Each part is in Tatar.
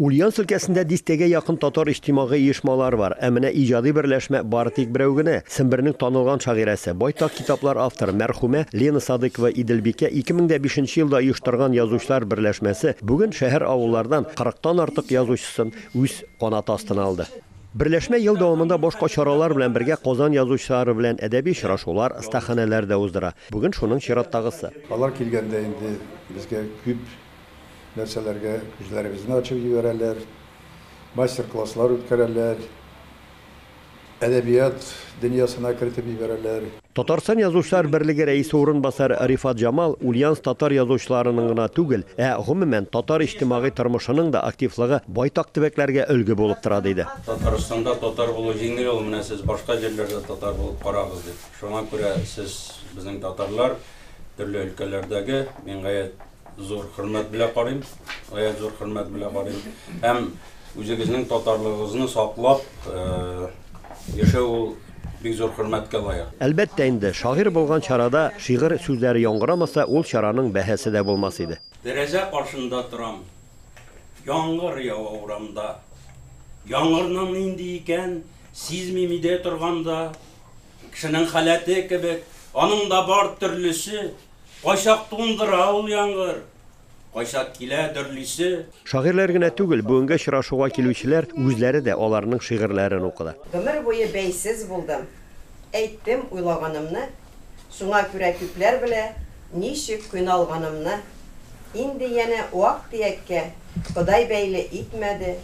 Ульяновск өлкәсендә дистәгә якын татар иҗтимагый оешмалары бар, ә менә иҗади берләшмә бары тик берәү генә, Сембернең танылган шагыйрәсе, байтак китаплар авторы мәрхүмә Лена Садыкова Иделбикә 2005 елда оештырган язучылар берләшмәсе бүген шәһәр-авыллардан кырыктан артык язучысын үз канаты астына алды. Берләшмә ел дәвамында башка чаралар белән бергә Казан язучылары белән әдәби очрашулар, остаханәләр дә уздыра. Бүген шуның чираттагысы. Алар килгәндә инде безгә күп нәрсәләргә күзләребезне ачып җибәрәләр, мастер-класслар үткәрәләр, әдәбият дөньясына кертеп җибәрәләр. Татарстан Язучылар берлеге рәисе урынбасары Рифат Җамал Ульяновск татар язучыларының гына түгел, ә, гомумән, татар иҗтимагый тормышының да активлыгы байтак төбәкләргә өлге булып тора, диде. Татарстанда татар булу җиңел ул, менә сез башка җирләрдә татар булып карагыз, дип. Шуңа күрә сез, безнең татарлар, төрле өлкәләрдәге, мин гаять. Зур хөрмәт белә карыйм, гаять зур хөрмәт белә карыйм. Һәм үзегезнең татарлыгыгызны саклап яшәү ул бик зур хөрмәткә лаек. Әлбәттә инде, шагыйрь булган чарада шигырь сүзләре яңгырамаса, ул чараның бәһасе дә булмас иде. Тәрәзә каршында торам, яңгыр ява урамда. Яңгырның нинди икән, сизмим өйдә торганда. Кешенең халәте кебек, аның да бар төрлесе. Кайчак туңдыра ул яңгыр. Кайчак килә дөрлисе. Шагыйрьләр генә түгел, бүгенге очрашуга килүчеләр үзләре дә аларның шигырьләрен укыды. Гомер буе бәйсез булдым, Әйттем уйлаганымны, Шуңа күрә күпләр белә Ничек кыйналганымны. Инде янә вак-төяккә Ходай бәйле итмәде,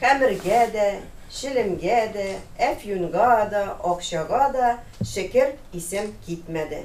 Хәмергә дә, челемгә дә, Әфьюнга да, акчага да Шекер, исем китмәде.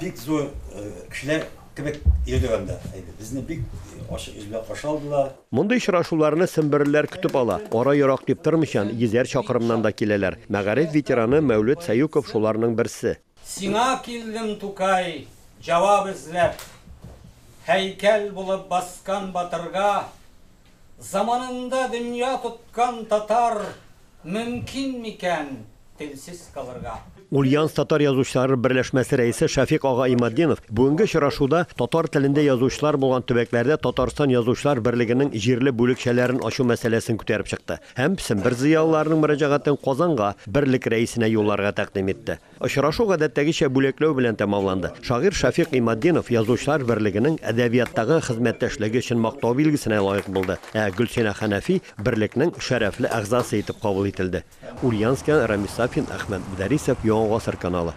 Бик зур кешеләр кебек йөрдек анда. Безне бик ачык йөз белән каршы алдылар. Мондый очрашуларны семберлеләр көтеп ала. Ара ерак дип тормыйча, йөзәр чакрымнан да киләләр. Мәгариф ветераны Мәүлет Сәюков шуларның берсе. Сиңа килдем, Тукай, җавап эзләп. Һәйкәл булып баскан батырга Заманында дөнья тоткан татар мөмкин микән телсез калырга? Ульяновск татар язучылары берләшмәсе рәисе Шәфикъ ага Иматдинов бүгенге очрашуда татар телендә язучылар булган төбәкләрдә Татарстан Язучылар берлегенең җирле бүлекчәләрен ачу мәсьәләсен күтәреп чыкты һәм Сембер зыялыларының мөрәҗәгатен Казанга, берлек рәисенә юлларга тәкъдим итте. Очрашу гадәттәгечә бүләкләү белән тәмамланды. Шагыйрь Шәфикъ Иматдинов Язучылар берлегенең әдәбияттагы хезмәттәшлеге өчен Мактау билгесенә лаек булды, ә Гөлсинә Хәнәфи берлекнең шәрәфле әгъзасы итеп кабул ителде. Ульянскиан, Рамис Сафин, Әхмәт Мөдәрисов, Яңа гасыр каналы.